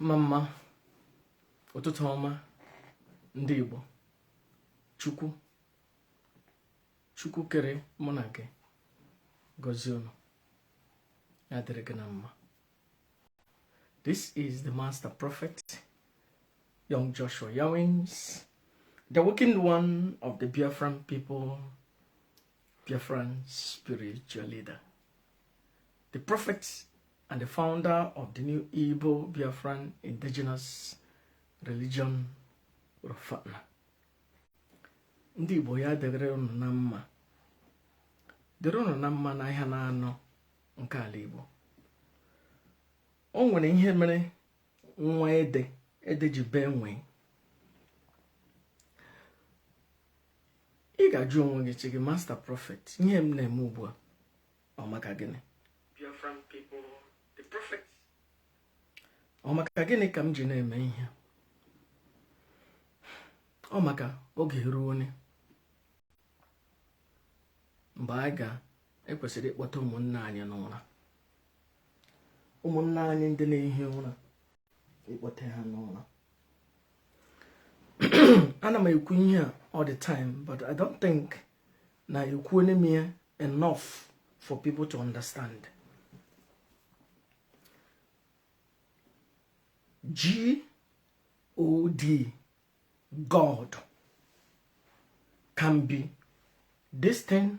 mma mma ụtụtụ ọma ndị Igbo Chukwu Chukwu kere mụ na gị gọzie unu ya dịrị gị na mma this is the master prophet young Joshua Yawins the awakened one of the Biafran people Biafran spiritual leader, the prophet and the founder of the new Igbo Biafran indigenous religion Rofana. Ndị Igbo ya dịrị unu na mma dịrị unu na mma n'ahịa na anọ nke ala Igbo o nwere ihe mere nwa ede ede ji bee nwii ị ga-ajụ onwe gị chi gị master prophet ihe m na-eme ugbu a ọ maka gịnị ọ maka gịnị ka m ji na-eme ihe ọ maka oge eruone mgbe anyị ga-ekwesịrị ịkpọte ụmụnna anyị n'ụra ụmụnna anyị ndị na-ehi ụra ịkpọte ha n'ụra ana m ekwu ihe a all the time but i don't think na ekwuone m ya enough for people to understand G O D God can be this thing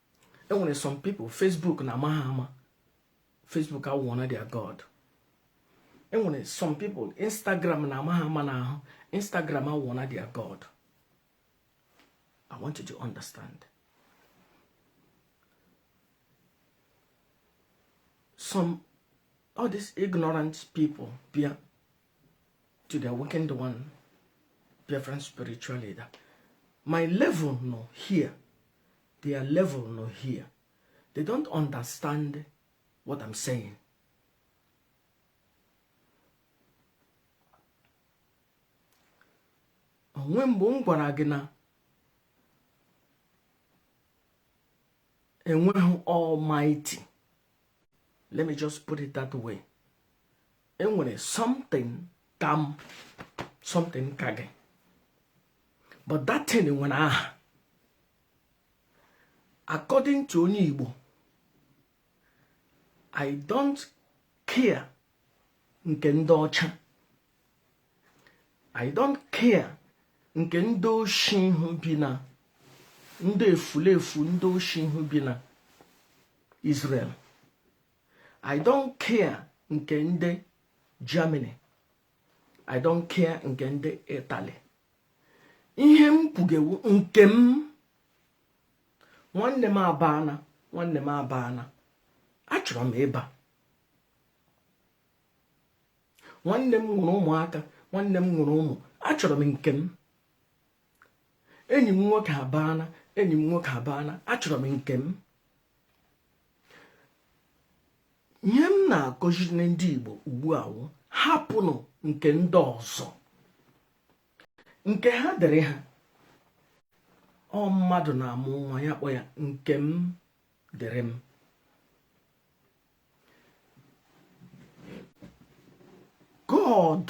enwere some people Facebook na ama ha ama Facebook awụọna their god enwere some people Instagram na ama ha ama na ahụ Instagram awụọna their god I want you to understand some all these ignorant people bịa to their weekend one different spiritual leader. My level no here their level nọ here they don't understand what I'm saying o nweghị mgbe m gwara gị na enweghị almighty let me just put it that way e nwere something ka m something ka gị but that thing nwere aha according to onye Igbo I don't care nke ndị ọcha I don't care nke ndị oshi ndị efulefu ndị oshi ahụ bi na Israel I don't care nke ndị Germany i don't care nke ndị itali ihe m kwuge wụ nke m nwanne m abana nwanne m abana achọrọ m ịba nwanne m nwere ụmụaka nwanne m nwere ụmụ achọrọ m nke m enyi m nwoke abana enyi m nwoke abana achọrọ m nke m ihe m na-akụziri ndị Igbo ugbu a wụ hapụnụ nke ndị ọzọ nke ha dịrị ha ọ mmadụ na-amụ nwa ya kpọ ya nke m dịrị m God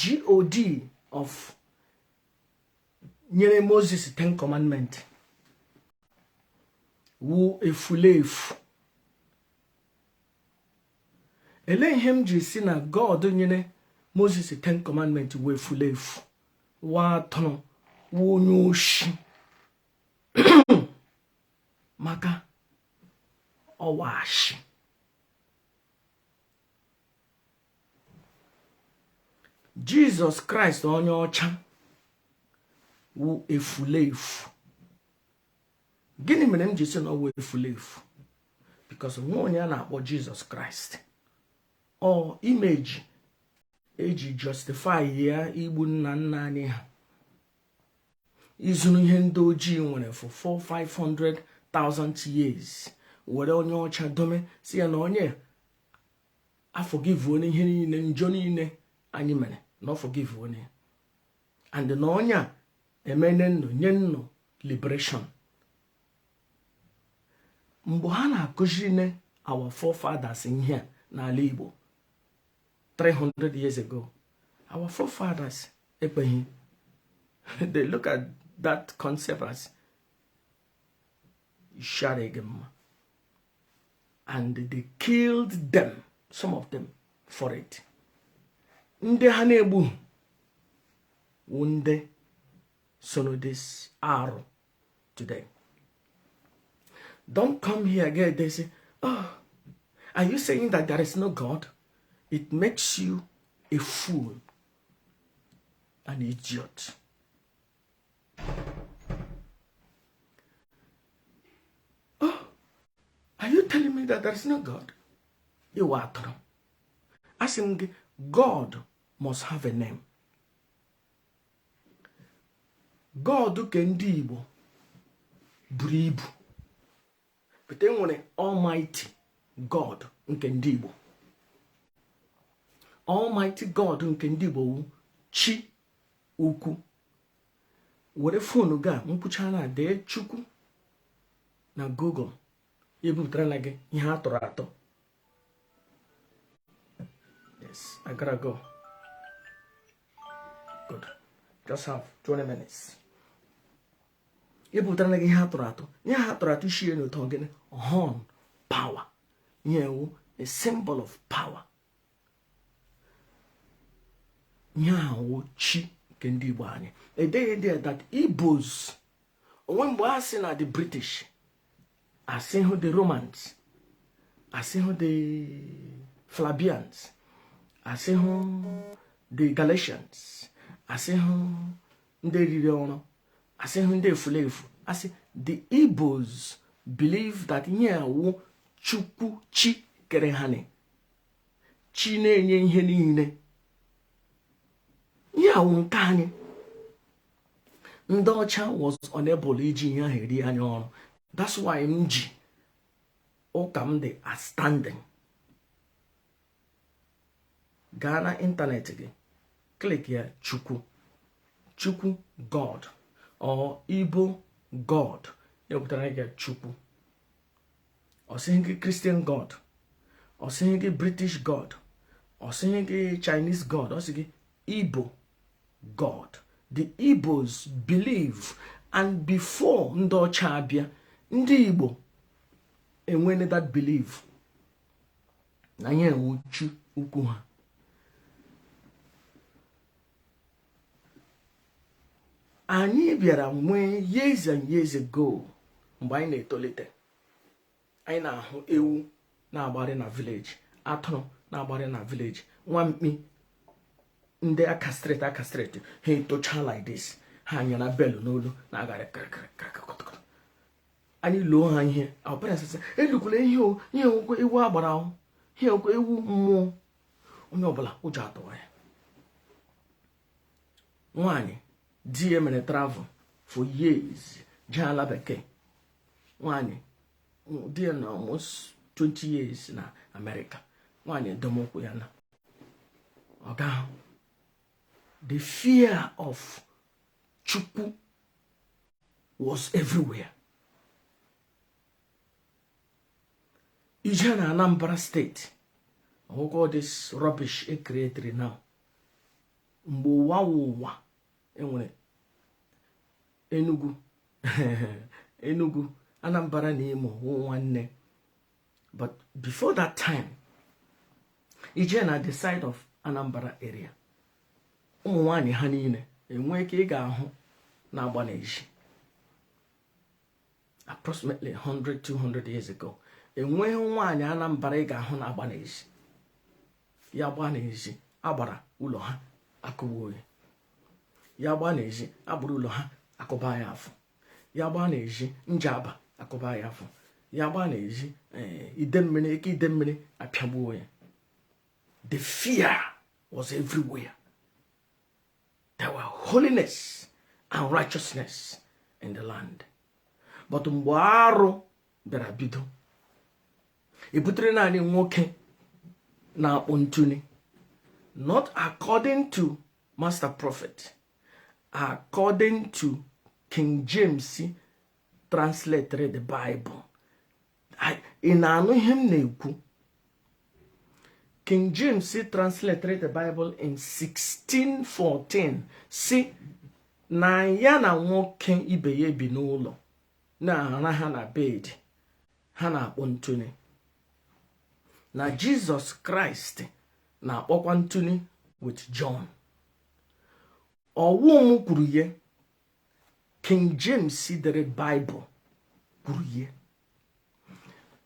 god of nyere moses ten commandment wu efulefu elee ihe m ji si na god nyere moses ten commandment wu efulefu wa atụrụ wu onye oshi maka ọ wụ ashị Jesus Christ onye ọcha wu efulefu gịnị mere m ji si na ọ wụ efulefu because ọ wụ onye a na-akpọ Jesus Christ ọ image e ji justify ya igbu nna nna anyị ha izuru ihe ndị ojii nwere for 400,000 years were onye ọcha dome si ya na onye a forgivuone ihe niile njọ niile anyị mere na ọ forgivuone and na onye a emene nnụ nye nnụ liberation mgbe ha na-akụzirine our forefathers ihe a n'ala Igbo 300 years ago our forefathers ekweghị they look at that concept as ishi arịghị mma and they killed them some of them for it ndị ha na-egbu wụ ndị sị no this arụ today don't come here again they say oh are you saying that there is no god it makes you a fool an idiot oh are you telling me that there is no god you are atụrụ asị m gị god must have a name God ke ndị Igbo buru ibu pụta e nwere Almighty God nke ndị Igbo Almighty God nke ndị Igbo wu chi ukwu were fonu gị a mkpucha na dee chukwu na Google ebupụtara na gị ihe a tụrụ atọ i butara ihe a tụrụ atụ ihe a tụrụ atụ shie n'ụtọ gịnị horn power ihe a wụ a symbol of power ihe a wụ chi nke ndị Igbo anyị edeghị ndị that Igbos o nwe mgbe a sị na the British asịhụ the romans asịhụ the flavians asịhụ the galatians asịhụ ndị riri ọrụ asịhụ ndị efulefu a sị the igbos believe that ihe a wụ chukwu chi kere anyị chi na-enye ihe niile ihe a wụ nke anyị ndị ọcha was unable iji ihe ahụ eri anya ọrụ that's why m ji ụka m dị outstanding gaa na ịntanetị gị click ya chukwu chukwu god or igbo god e wepụtara gị chukwu ọ sịghị gị christian god ọ sịghị gị british god ọ sịghị gị chinese god ọ sị gị igbo god the igbos believe and before ndị ọcha abịa ndị igbo enwene that believe na ihe a wụ chi ukwu ha anyị bịara nwee years and years ago mgbe anyị na-etolite anyị na-ahụ ewu na-agbarị na village atụrụ na-agbarị na village nwa mkpi ndị a castrate a castrate ha etocha like this ha nyara bell n'olu na-agarị kịrịkịrịkịrịkịrịkịrị anyị loo ha ihe akwụkwọ ihe a wụkwa ewu agbara o ihe a wụkwa ewu mmụọ onye ọbụla ụjọ atụwa ya nwaanyị di ya mere travel for years jee ala bekee nwaanyị di ya nọ almost 20 years na america nwaanyị edome ukwu ya na ọ gaghị the fear of chukwu was everywhere i jee na anambra state ọ wụkwa this rubbish e creatri now mgbe ụwa wụ ụwa e nwere enugu enugu anambra na imo wụ nwanne but before that time i jee na the side of anambra area ụmụ nwanyị ha niile enweghị nke ị ga-ahụ na-agba n'ezi approximately 100 200 years ago enweghị nwaanyị anambra ị ga-ahụ na-agba n'ezi ya gbaa n'ezi agbara ụlọ ha akụgbuo ya ya gbaa n'ezi agbara ụlọ ha akụba ya afọ ya gbaa n'ezi Njaba akụba ya afọ ya gbaa n'ezi eh, Idemmiri ike Idemmiri apịagbuo ya the fear was everywhere there were holiness and righteousness in the land but mgbe arụ bịara bido ebutere na anyị nwoke na-akpọ ntune not according to master prophet according to king james translated the bible ị na-anụ ihe m na-ekwu King James translated the Bible in 1614 sị na ya na nwoke ibe ya ebi n'ụlọ na-araha na bed ha na-akpọ ntune na Jizọs Kraịst na-akpọkwa ntune with John ọ wụ m kwuru ya King James dere Bible kwuru ya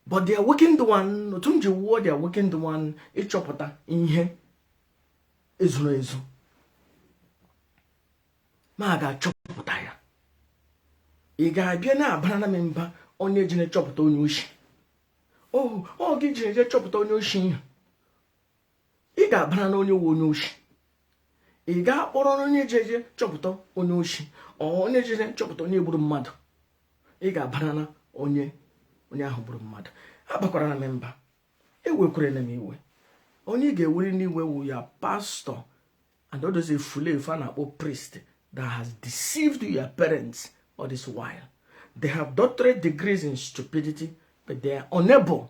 but the awakened one otu m ji wụọ the awakened one ịchọpụta ihe e zuru ezu m gaa chọpụta ya ị ga-abịa na-abara na m mba onye ji na-achọpụta onye oshi oh, ọ gị ji eje chọpụta onye oshi ihe ị ga-abara na onye wụ onye oshi ị ga-akpọrọ onye jeje chọpụta onye oshi onye jeje chọpụta onye gburu mmadụ ị ga-abara na onye onye ahụ gburu mmadụ abakwara na m mba ewekwere na m iwe onye ị ga-ewere n'iwe wụ your pastor and all those efulefu a na-akpọ priest that has deceived your parents all this while they have doctorate degrees in stupidity but they are unable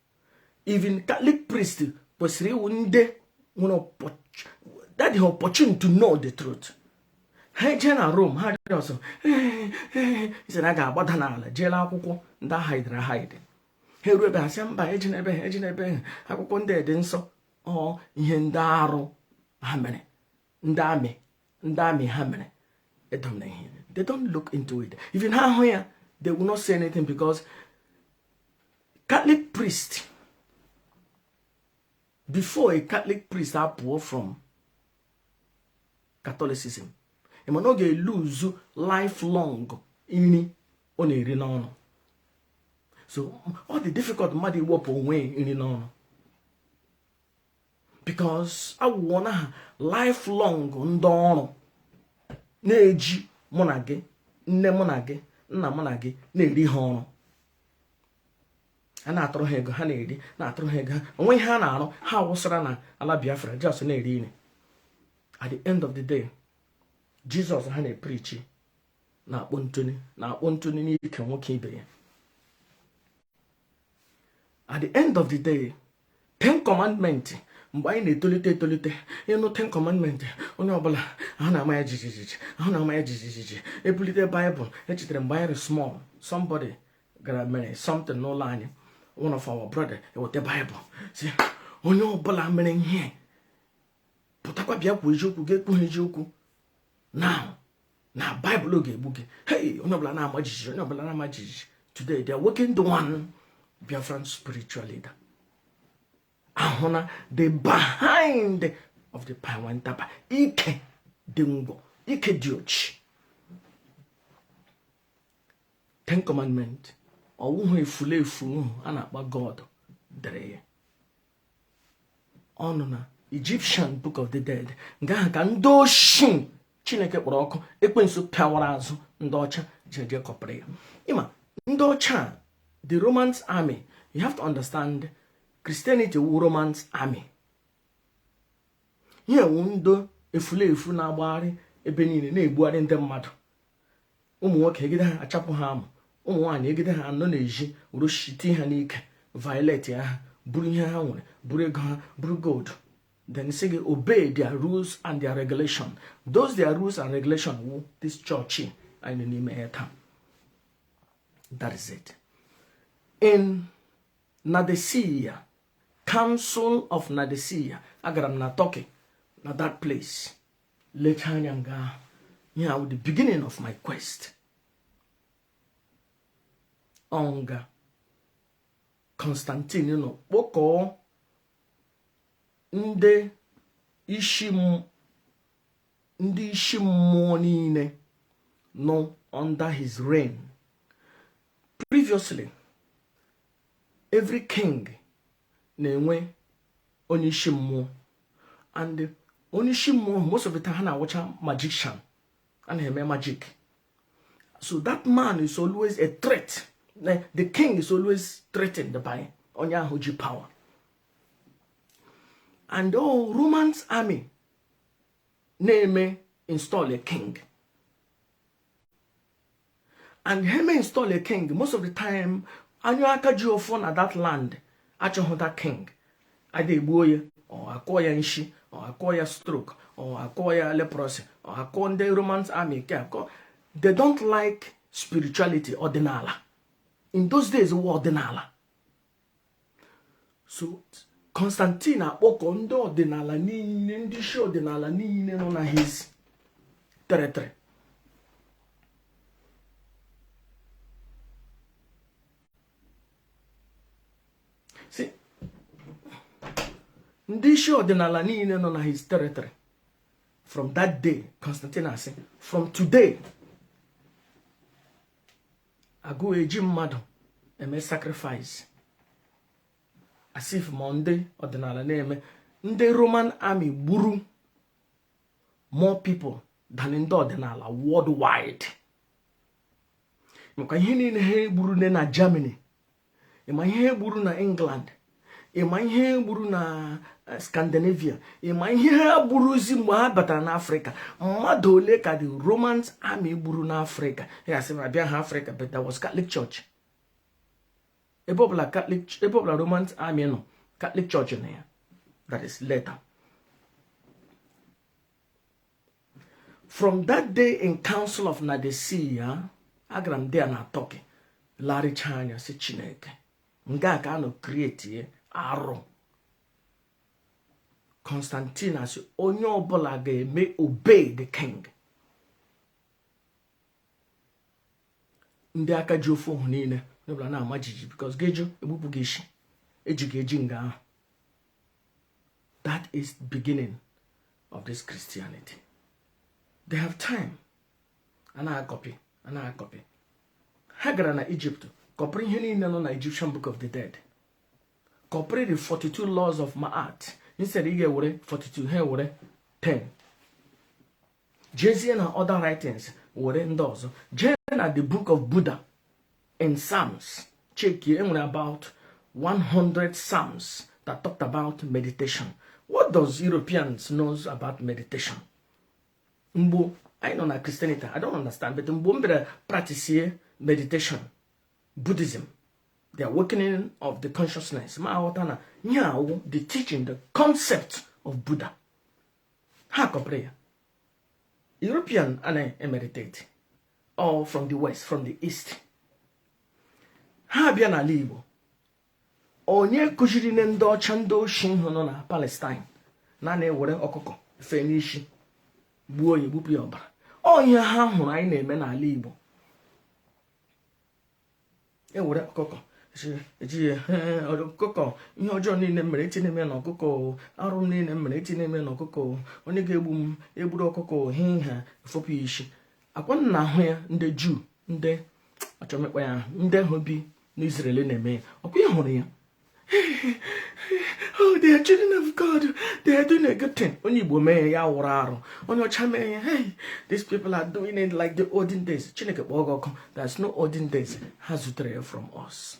even catholic priest kwesịrị ịwụ ndị nwere that opportunity to know the truth ha jee na Rome ha jụrụ ọsọ sị na ga-agbada n'ala jee lee akwụkwọ ndị a hidere ahide ha eruo ebe ha sị mba ejena ebe ahụ ejena ebe ahụ akwụkwọ ndị dị nsọ ọ ihe ndị arụ ha mere ndị amị ndị amị ha mere edona ihe they don't look into it even ha hụ ya they will not say anything because catholic priest before a catholic priest apụọ from catholicism ị ma na ọ ga-elose lifelong nri ọ na-eri n'ọnụ so ọ na-adị difficult mmadụ iwepụ onwe nri n'ọnụ because awụọna ha lifelong ndị ọrụ na-eji mụ na gị nne mụ na gị nna mụ na gị na-eri ha ọrụ a na-atụrụ ha ego ha na-eri na-atụrụ ha ego ha o nwe ihe ha na-arụ ha awụsara na ala biafra just na-eri eri at the end of the day jizọs ha na-eprichi na-akpọ ntu na-akpọ ntu n'ike nwoke ibe ya at the end of the day ten commandment mgbe anyị na-etolite etolite ị nụ ten commandment onye ọbụla ahụ na-ama ya jijijiji ahụ na-ama ya jijijiji e bulite baịbụl echetara m mgbe anyị dị small somebody gara mere something n'ụlọ anyị one of our brother e weta baịbụl sị onye ọbụla mere ihe pụtakwa bịa kwuo eziokwu gị ekwuhu eziokwu now na baịbụl ga-egbu gị hei onye ọbụla na-ama jijiji onye ọbụla na-ama jijiji today the awakened one biafran spiritual leader ahụna the behind of the pawentaba ike dị ngwọ ike dị ochi ten commandment ọwụhụ efulefu a na-akpọ god dere ya ọ nọ na Egyptian Book of the Dead nke ahụ ka ndị oshi Chineke kpọrọ ọkụ ekwensu pịawara azụ ndị ọcha ji eje kọpịrị ya ị ma ndị ọcha the Romans army you have to understand Christianity wụ Romans army ihe wụ ndị efulefu na-agbagharị ebe niile na-egbugharị ndị mmadụ ụmụ nwoke e gide ha a chapụ ha amụ ụmụ nwaanyị e gide ha a nọ na-eji roshiti ha n'ike violate ha buru ihe ha nwere buru ego ha buru gold then sị gị obey their rules and their regulation those their rules and regulation wụ this church anyị nọ n'ime ya taa that is it in Nadesia Council of Nadesia agara m na Turkey na that place lecha anya nga ahụ ihe ahụ the beginning of my quest ọ nga Constantine nọ kpọkọọ ndị isi ndị isi mmụọ niile nọ under his reign previously every king na-enwe onye isi mmụọ and onye isi mmụọ most of the time ha na-awụcha magician a na-eme magic so that man is always a threat the king is always threatened by onye ahụ ji power and ọ romans army na-eme install a king and ha me install a king most of the time onye aka ji ọfọ na that land achọghị that king ada egbuo ya or akụọ ya nshi or akụọ ya stroke or akụọ ya leprosy or akụọ ndị roman army ke akụọ they don't like spirituality ọdịnala in those days wụ ọdịnala so constantine akpọkọ ndị ọdịnala niile ndị isi ọdịnala niile nọ na his territory from that day constantine asị from today agaghị eji mmadụ eme sacrifice as if ma ndị ọdịnala na-eme ndị roman army gburu more people than ndị ọdịnala worldwide maka ihe niile ha gburu na germany ị ma ihe ha gburu na england ị ma ihe ha gburu na eh, scandinavia ị ma ihe ha gburuzi mgbe ha batara n'afrịka mmadụ ole ka the romans army gburu n'afrịka ya sị na bịa ha afrịka but that was catholic church ebe ọbụla catholic ebe ọbụla romans army nọ catholic church nọ ya that is later from that day in council of Nicaea agara m there na Turkey lericha anya sị Chineke nga a ka a nọ create arụ Constantine asị onye ọbụla ga-eme obey the king ndị aka ji ọfọ ahụ niile onye ọbụla na-ama jiji because ga-eje egbupụ gị isi eji gị eji nga ahụ that is the beginning of this christianity they have time a na-akọpị a na-akọpị ha gara na egypt kọpịrị ihe niile nọ na egyptian book of the dead kọpịrị the 42 laws of maat instead ị ga-ewere 42 ha ewere 10 jezie na other writings were ndị ọzọ jee na the book of buddha in psalms chekie e nwere about 100 psalms that talked about meditation what does europeans knows about meditation mgbo anyị nọ na christianity i don't understand but mgbo m bịara practice meditation buddhism the awakening of the consciousness mụ aghọta na ihe a wụ the teaching the concept of buddha ha kọpịrị ya european anaghị emeritate all from the west from the east ha abịa n'ala igbo onye kụziri na ndị ọcha ndị oshi hụ nọ na palestine na a na-ewere ọkụkọ fe n'isi gbuo onye gbupụ ya ọbara ọ ihe ha hụrụ anyị na-eme n'ala igbo ewere ọkụkọ ejighị ọkụkọ ihe ọjọọ niile m mere echinye m ya na ọkụkọ arụ niile m mere echinye m ya na ọkụkọ onye ga-egbu m egburu ọkụkọ he ha efopụ ya isi ọkwa unu na-ahụ ya ndị juu ndị ọcha mekpa ya ahụ ndị ahụ bi n'Israel na-eme ya ọkwa ị hụrụ ya oh they are children of god they are doing a good thing onye igbo mee ya wụrụ arụ onye ọcha mee ya hey these people are doing it like the olden days chineke kpọọ gị ọkụ there's no olden days ha zutere ya from us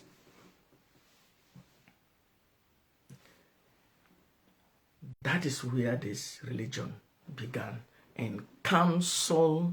that is where this religion began in council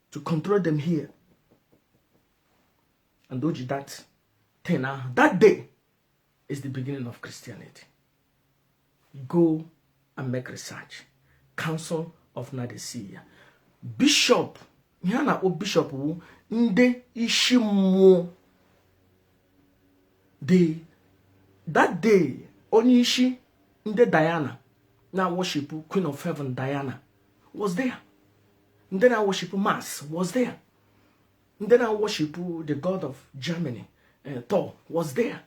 to control them here and o ji that thing ahụ that day is the beginning of Christianity go and make research council of Nicaea bishop ihe a na-akpọ bishop wụ ndị isi mmụọ the that day onye isi ndị Diana na worship Queen of Heaven Diana was there ndị na-awọshipụ mars was there ndị na-awọshipụ the god of germany eh, thor was there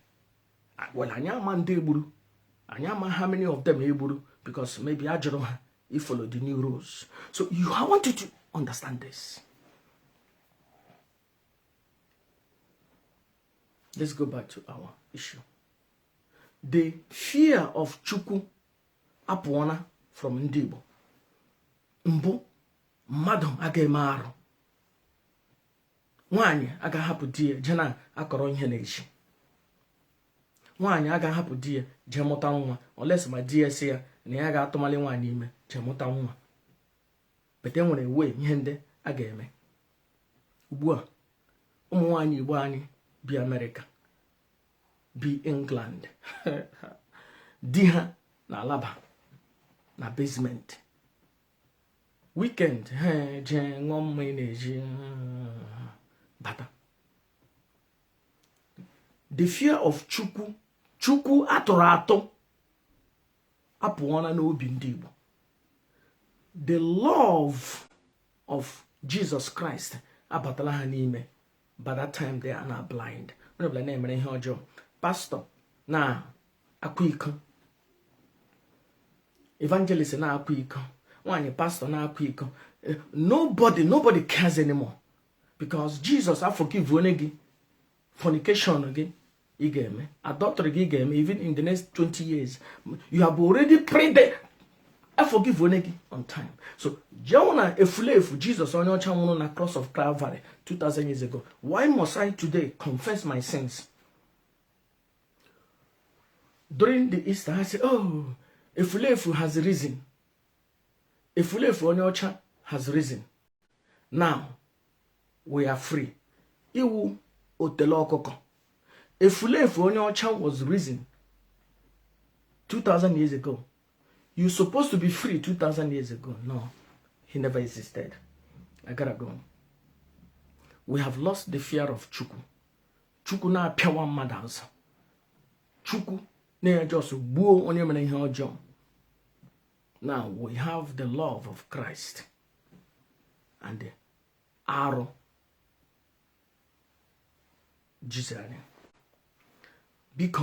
ah, well anyị ama ndị egburu anyị ama how many of them egburu because maybe a jụrụ ha ifolo the new rules so i want you to understand this let's go back to our issue the fear of chukwu apụọna from ndị Igbo mbụ mmadụ aga eme arụ nwaanyị aga ahapụ di ya jee na-akọrọ ihe n'ezi nwaanyị aga ahapụ di ya jee mụta nwa unless ma di ya sị ya na ya ga-atụmali nwaanyị ime jee mụta nwa but e nwere wee ihe ndị a ga-eme ugbu a ụmụ nwaanyị igbo anyị bi amerịka bi england di ha na-alaba na basement weekend ha eje ṅụọ mmaị na-eji uh, bata the fear of chukwu chukwu atụrụ atụ apụọna n'obi ndị igbo the love of jesus christ abatala ha n'ime by that time they are now blind onye ọbụla na-emere ihe ọjọọ pastọ na-akwa iko evangelist na-akwa iko nwaanyị pastọ na-akwa iko eh, nobody nobody cares anymore because Jesus aforgiveone gị fornication gị ị ga-eme adọtrị gị ị ga-eme even in the next 20 years you have already prayed aforgiveone gị on time so je wụ na efulefu jesus onye ọcha nwụrụ na cross of calvary 2000 years ago why must i today confess my sins during the easter ha say oh efulefu has risen efulefu onye ọcha has risen now we are free ị wụ otele ọkụkọ efulefu onye ọcha was risen 2000 years ago you supposed to be free 2000 years ago no he never existed i gotta go we have lost the fear of chukwu chukwu na-apịawa mmadụ azụ chukwu na-eje just gbuo onye mere ihe ọjọọ now we have the love of christ and arụ jizere anyị biko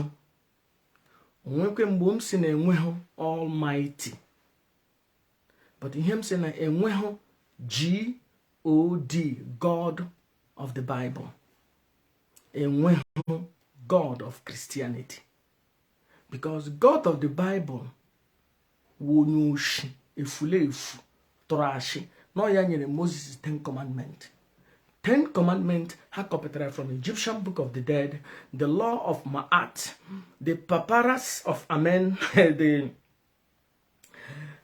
o nwekwe mgbe m sị na enweghị almighty but ihe m sị na enweghị god god of the bible enweghị god of christianity because god of the bible wụ onye oshi efulefu tụrụ ashị na ọ ya nyere moses ten commandment ten commandment ha kọpụtara from egyptian book of the dead the law of ma'at the papyrus of ani the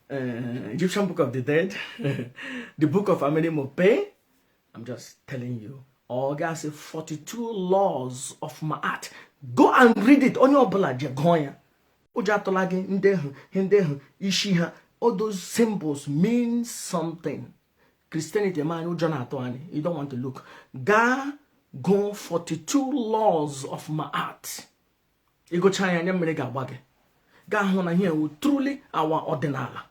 uh, egyptian book of the dead the book of amenemope i'm just telling you ọ kasị 42 laws of ma'at go and read it onye ọbụla jee gụọ ya ụjọ atụla gị ndị ahụ ndị ahụ isi ha all those symbols mean something Christianity ma anyị ụjọ na-atụ anyị you don't want to look gaa gụọ 42 laws of Ma'at ị gụchaa ya anya mmiri ga-agba gị ị ga-ahụ na ihe a wụ truly our ọdịnala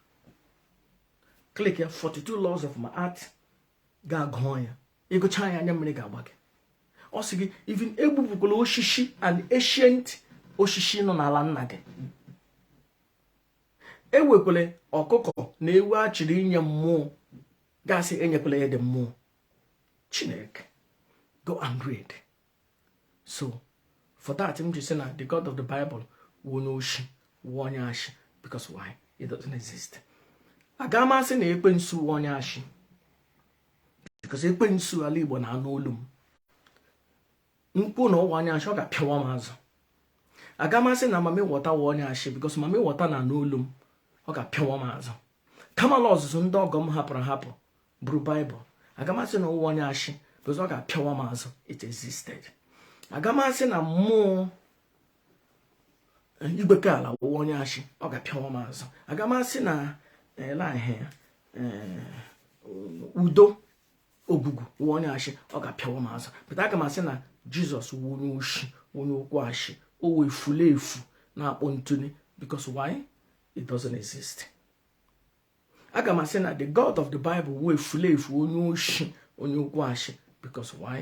click 42 laws of Ma'at gaa gụọ ya ị gụchaa ya anya mmiri ga-agba gị ọ sị gị even egbupụkwala osisi and ancient osisi nọ n'ala nna gị ewekwala ọkụkọ na ewu a chịrị inye mmụọ gasị enyekwala ya ndị mmụọ chineke go and read so for that m ji sị na the god of the bible wụ onye oshi wụ onye ashị because why it doesn't exist aga amasị na ekwensu wụ onye ashị because ekwensu ala igbo na-anụ olu m m kwuo na ọ wụ onye ashị ọ ga-apịawa m azụ aga m asị na mami wọta wụ onye ashị because mami wọta na-anụ olu m ọ ga-apịawa m azụ kamalu ozuzu ndị ọgọ m hapụrụ hapụ buru baịbụl aga m asị na ọ wụ onye ashị because ọ ga-apịawa m azụ it existed aga m asị na mmụọ igwe ka ala wụ onye ashị ọ ga-apịawa m azụ aga m asị na lahe eh, eh, udo ogugu wụ onye ashị ọ ga-apịawa m azụ but aga m asị na jizọs wụ onye oshi onye okwu ashị ọ wụ efulefu na-akpọ ntụli because why it doesn't exist aga m asị na the god of the bible wụ efulefu onye oshi onye okwu ashị because why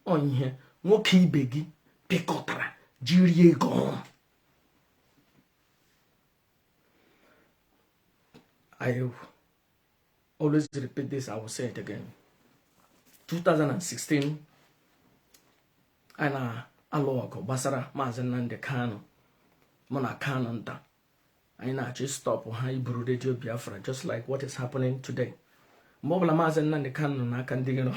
ọ ihe nwoke ibe gị pịkọtara jiri ego ọrụ I always repeat this, I will say it again. 2016, m na-alụ ọgụ gbasara maazị Nnamdi Kanu mụ na Kanunta anyị na-achọ ịstọpụ ha iburu redio biafra just like what is happening today mgbe ọbụla maazị nnamdị kanu nọ n'aka ndị iro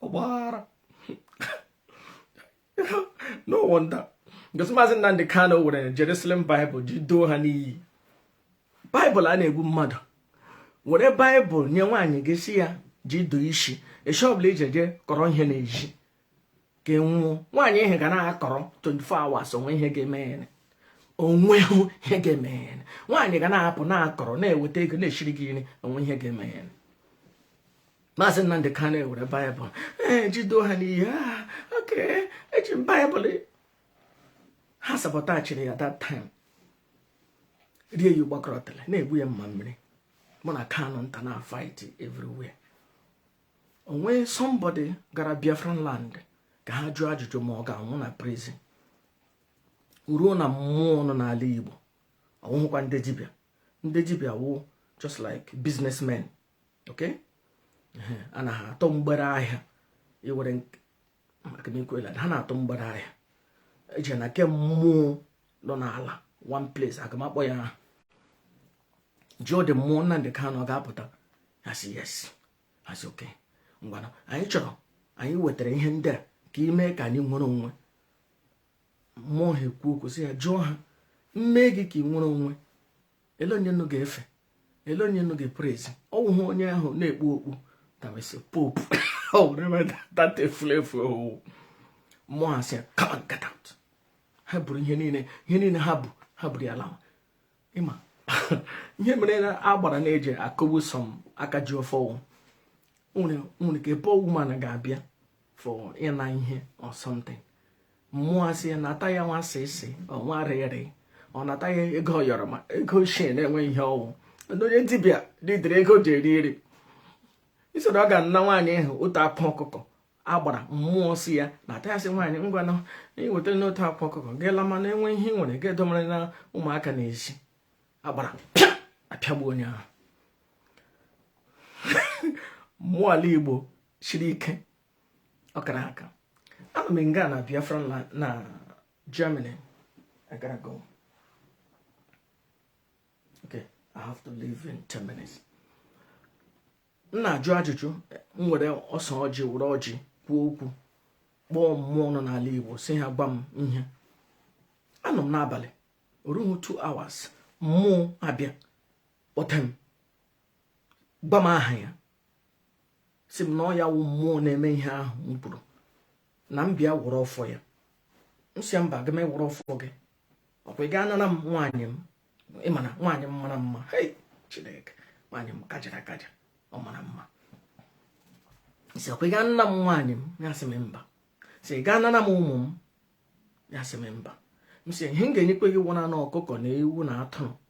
ọgbaghara no wonder because maazị nnamdị kanu were jerusalem bible ji doo ha n'iyi baịbụl a na-egbu mmadụ were baịbụl nye nwaanyị gị sị ya ji dụọ isi esi ọbụla ije je kọrọ ihe n'ezi ka ọ nwụọ nwaanyị ahụ ga na-akọrọ 24 hours o nwe ihe ga-eme ya o nwehụ ihe ga-eme ya nwaanyị ga na-apụ na-akọrọ na-eweta ego na-eshiri gị nri o nwe ihe ga-eme ya maazị Nnamdị Kanu ewere baịbụl ee ji doo ha n'iyi ah, oke eji m baịbụl ha sabọtaajịrị ya that time rie ya ụgbakọrọtara na-egbu ya mamịrị mụ na Kanunta na-afight everywhere o nwe somebody gara biafran land ka ha jụọ ajụjụ ma ọ ga-anwụ na prison ruo na mmụọ nọ n'ala igbo ọ wụhụkwa ndị dibịa ndị dibịa wụ just like businessmen okay ha na-atụ mgbere ahịa iwere ha na-atụ mgbere ahịa eje na ke mmụọ nọ n'ala one place aga m akpọ ya aha jụọ ndị mmụọ Nnamdi Kanu ọ ga-apụta ha sị yes ha sị okay ngwanụ anyị chọrọ anyị wetara ihe ndị a ka i mee ka anyị nwere onwe mmụọ a ekwuo okwu sị ya jụọ ha m mee gị ka i nwere onwe ele onye nnu ga-efe ele onye nnu ga-eprezi ọ wụhụ onye ahụ na-ekpu okpu tawesị popu data efulefu ọ wụ mmụọ asị come and get out ha buru ihe niile ihe niile ha bu ha buru ya lawa ị ma ihe mere agbara na-eji akụgbu some aka ji ọfọ o nwere ike bụ woman ga-abịa for ịna ihe or something mmụọ asị ya nata ya nwa sisi ọnwa rịrị ọ nata ya ego ayọrọ ma ego ochie na e nwe ihe ọ wụ onye dibịa dịdịrị ego ji eri eri i soro ọ ga-ana nwaanyị ahụ otu akwa ọkụkọ agbara mmụọ sị ya nata ya sị nwaanyị ngwa na i wetana otu akwa ọkụkọ gị lama na e nwe ihe i nwere gị domere na ụmụaka na-esi agbara apịagbu onye ahụ mmụọ ala igbo siri ike ọ kara aka anọ m nga na biafra na germany i gotta go okay i have to leave in 10 minutes m na-ajụ ajụjụ m were ose ọjị were ọjị kwuo okwu kpọọ mmụọ nọ n'ala igbo sị ha gwa m ihe anọ m n'abalị o ruhu 2 hours mmụọ abịa kpọtee m gwa m aha ya sị m na ọ ya wụ mmụọ na-eme ihe ahụ m kwuru na m bịa were ọfọ ya m sị mba agaghị m ewere ọfọ gị ọkwa ị ga-anara m nwaanyị m ị ma na nwaanyị m mara mma hei chineke nwaanyị m kajara akaja ọ mara mma sị ọkwa ị ga-ana m nwaanyị m ya sị m mba sị ị ga-anara m ụmụ m ya sị m mba m sị ihe m ga-enyekwa gị wụ naanị ọkụkọ na ewu na atụrụ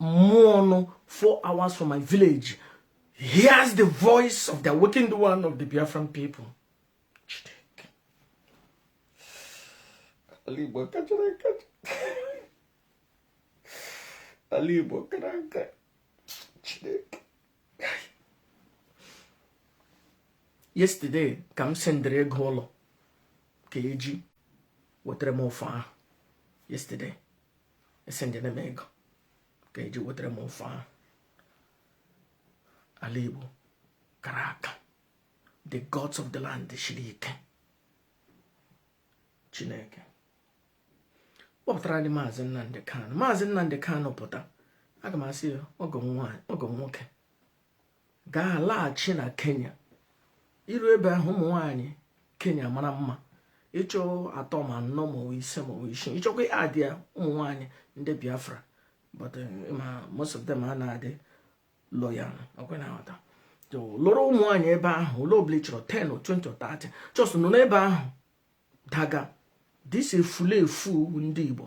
mmụọ nọ four hours from my village hears the voice of the awakened one of the Biafran people ala Igbo kachara akacha ala Igbo kara aka Chineke yesterday ka m sendịrị ego ụlọ ka e ji wetara m ọfọ ahụ yesterday esendiene m ego ka e ji wetara m ọfọ ahụ ala igbo kara aka the gods of the land shiri ike chineke kpọpụtara ndị maazị nnamdi kanu maazị nnamdi kanu pụta aga m asị ya ọgọ nwoke ga-alaghachi na kenya i ru ebe ahụ ụmụ nwaanyị kenya mara mma ị chọọ atọ ma anọ ma ise ma isii ị chọkwa adị ya ụmụ nwaanyị ndị biafra but eh, ma most of them na-adị loyal ọkwa ị na-aghọta lụrụ ụmụ nwaanyị ebe ahụ ole ọbụla ị chọrọ 10 or 20 or 30 choose nọ n'ebe ahụ daga dịsi efulefu ndị igbo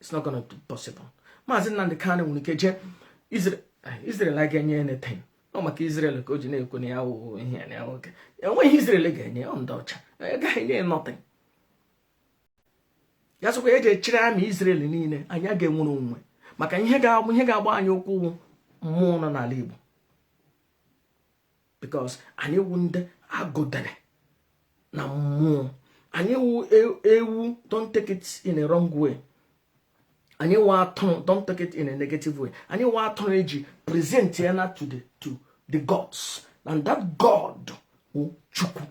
it's not gonna be possible maazị Nnamdi Kanu nwere ike jee Israel agaghị enye anything ọ maka Israel ka o ji na-ekwu na ya wụ ihe ya na o nweghị ihe Israel ga-enye ọ ndị ọcha agaghị enye nothing ya sịkwa ya jee chịrị army Israel niile anyị agaghị enwere onwe maka ihe ga-agba anyị ụkwụ mmụọ nọ n'ala Igbo because anyị wu ndị agọdere na mmụọ anyị wu e, ewu don't take it in a wrong way anyị wu atụrụ don't take it in a negative way anyị wu atụrụ eji present ya na to the to the gods and that god wụ chukwu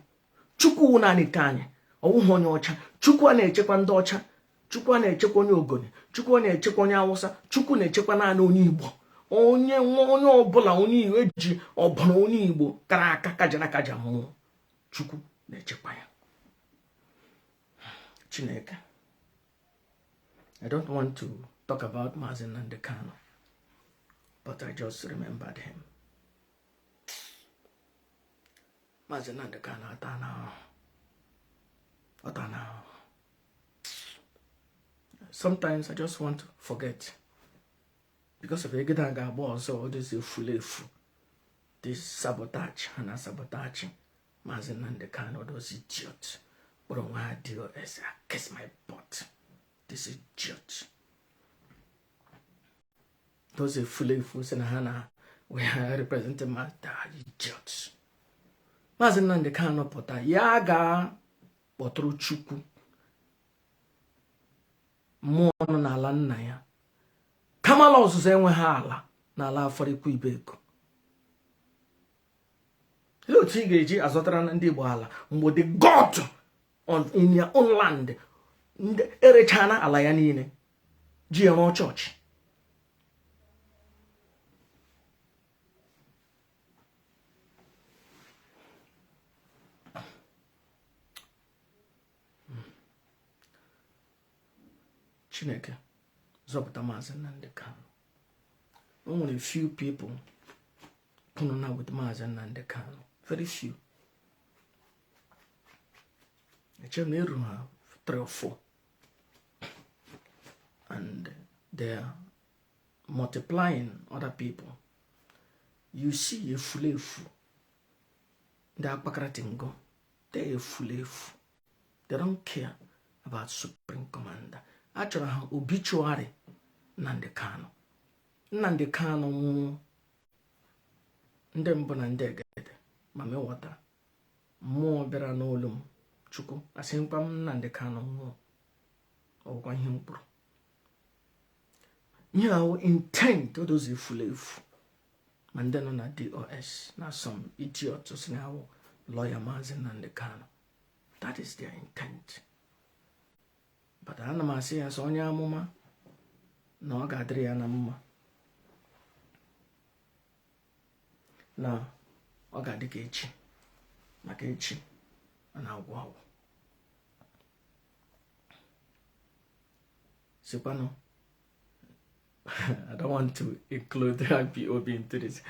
chukwu wụ naanị nke anyị ọ wụghị onye ọcha chukwu anaghị echekwa ndị ọcha chukwu anaghị echekwa onye ogoni chukwu anaghị echekwa onye awụsa chukwu na-echekwa naanị onye igbo onye nwa onye ọbụla onye igbo eji ọbụla onye igbo kara aka kajara kaja mmụọ chukwu na-echekwa ya chineke i don't want to talk about Mazi Nnamdi Kanu but i just remembered him Maazị Nnamdi Kanu atana ahụhụ ọ tana ahụhụ sometimes I just want to forget because of egede a ga-agba ọzọ all these efulefu this sabotage ha na sabotage Maazị Nnamdi Kanu all those idiots kpọrọ onwe ha DOS kiss my butt this idiot those efulefu sị na ha na we are representing ma idiots maazị Nnamdị Kanụ pụta ya gaa kpọtụrụ Chukwu mmụọ nọ n'ala nna ya Kamalu Ozuzu enweghị ala n'ala Afaraukwu Ibeku olee otu ị ga-eji azọtara ndị Igbo ala mgbe the god in your own land erechana ala ya niile ji ya rụọ chọọchị chineke zọpụta maazị nnamdị kanụ o nwere few people kwụrụ na with maazị nnamdị kanụ very few echere na eruru ha 3 or 4 and they are multiplying other people you see efulefu ndị akpakarati ngo the efulefu they don't care about supreme commander achọrọ ha obituary Nnamdi Kanu Nnamdi Kanu nwụọ ndị mbụ na ndị egede ma mewọta mmụọ bịara n'olu m chukwu asịkwa m Nnamdi Kanu nwụọ ọ wụkwa ihe m kwuru ihe a wụ intent Edoziem efulefu ma ndị nọ na DOS na some idiot sị na ha wụ lọya maazị Nnamdi Kanu that is their intent but ana m asị ya sọ onye amụma na ọ ga-adịrị ya na mma na ọ ga-adị ka echi maka echi a na-agwụ agwụ sikwanụ I don't want to include IPOB into this.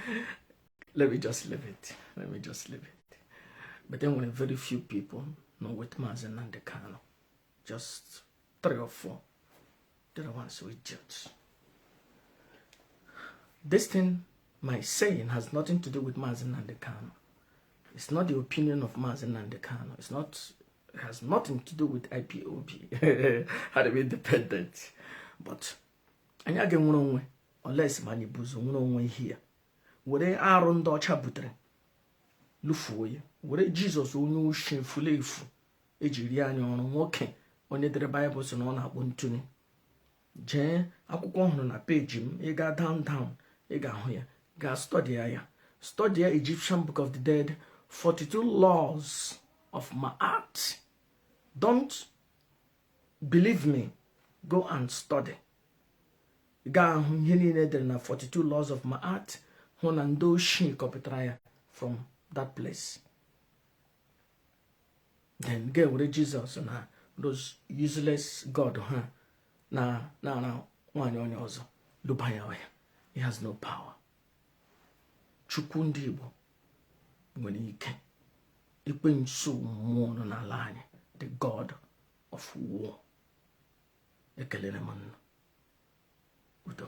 Let me just leave it. Let me just leave it. But then when very few people know what Maazị Nnamdi Kanu. Just three or four. The other ones were idiots. This thing, I'm saying, has nothing to do with Maazị Nnamdi Kanu. It's not the opinion of Maazị Nnamdi Kanu. It's not, it has nothing to do with IPOB. How to be independent. But, anyị agaghị enwere onwe unless ma anyị bu ụzọ nwere onwe anyị were arụ ndị ọcha butere lụfuo ya were jizọs onye oshi efulefu ejiri anyị ọrụ nwoke onye dere baịbụl si na ọ na-akpọ ntụnye jee akwụkwọ ọhụrụ na peji m ị gaa down down ị ga-ahụ ya gaa stọdịa ya stọdịa Egyptian Book of the Dead 42 laws of Ma'at don't believe me go and study gaa ahụ ihe niile e dere na 42 laws of Ma'at hụ na ndị oshi kọpụtara ya from that place then gaa were jizọs na those useless god ha na-ara nwaanyị onye ọzọ lụba ya ọhịa he has no power chukwu ndị igbo nwere ike Ekwensu mmụọ nọ n'ala anyị the god of war ekelere m nna udo